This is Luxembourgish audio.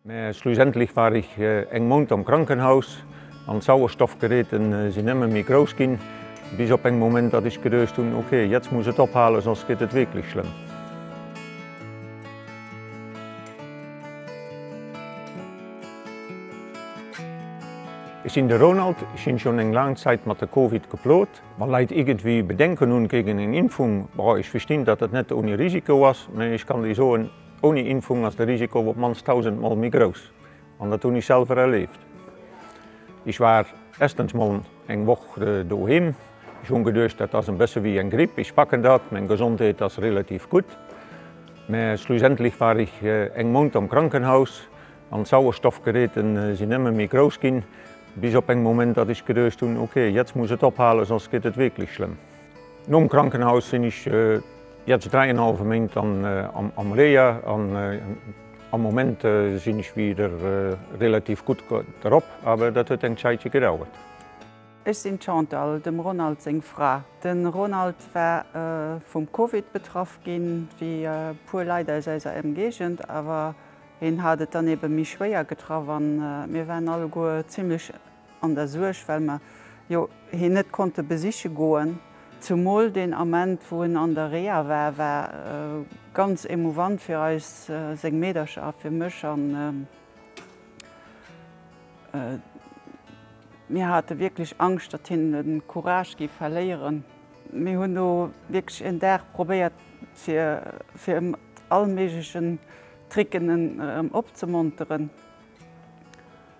Mä schlussendlech war ech eng Mount am Krankenhaus an d'Sauerstoffgeräte sinn ëmmer méi grouss ginn, bis op eng Moment, datt ech geduecht hunn, ok, jetzt muss et ophalen, soss gëtt et wierklech schlëmm. Ech sinn de Ronald, ech sinn schonn eng laang Zäit mat de Covid geplot. Wa Leit iergendwéi Bedenken hunn géigen eng Impfung, bon, ech verstinn, datt et net ouni Risiko ass, mä ech kann déi soen, Ouni Impfung ass de Risiko op d'mannst 1000 mol méi grouss an dat hunn ech selwer erleeft. Ech war erstens mol eng Woch doheem, ech hunn geduecht dat ass en bësse wéi eng Gripp, ech packen dat, meng Gesondheet ass relativ gutt, mä schlussendlech war ech eng Mount am Krankenhaus an d'Sauerstoffgeräte sinn nëmme méi grouss ginn, bis op en Moment datt ech geduecht hunn, ok, jetzt muss et ophalen, soss gëtt et wierklech schlëmm. Nom Krankenhaus sinn ech jetzt 3 en halwe Méint am Reha an am Moment sinn ech wieder relativ gutt drop, awer dat huet eng Zäitche gedauert. Ech sinn d'Chantal, dem Ronald seng Fra. De Ronald war vum Covid betraff ginn, wéi e puer Leit aus eiser Emgéigend, awer hien hat et dann ebe méi schwéier getraff an mir waren alleguer zimlech an der Suerg, well mer jo hien net konnte besiche goen, zumol deen Ament, wou en an der Reha war, war ganz emouvant fir eis, seng Meedercher a fir mech, a mir hate wierklech Angscht, datt hien de Courage géif verléieren. Mir hunn do wierklech en Dag probéiert, fir fir e mat allméiglechen Tricken en erëm opzemonteren.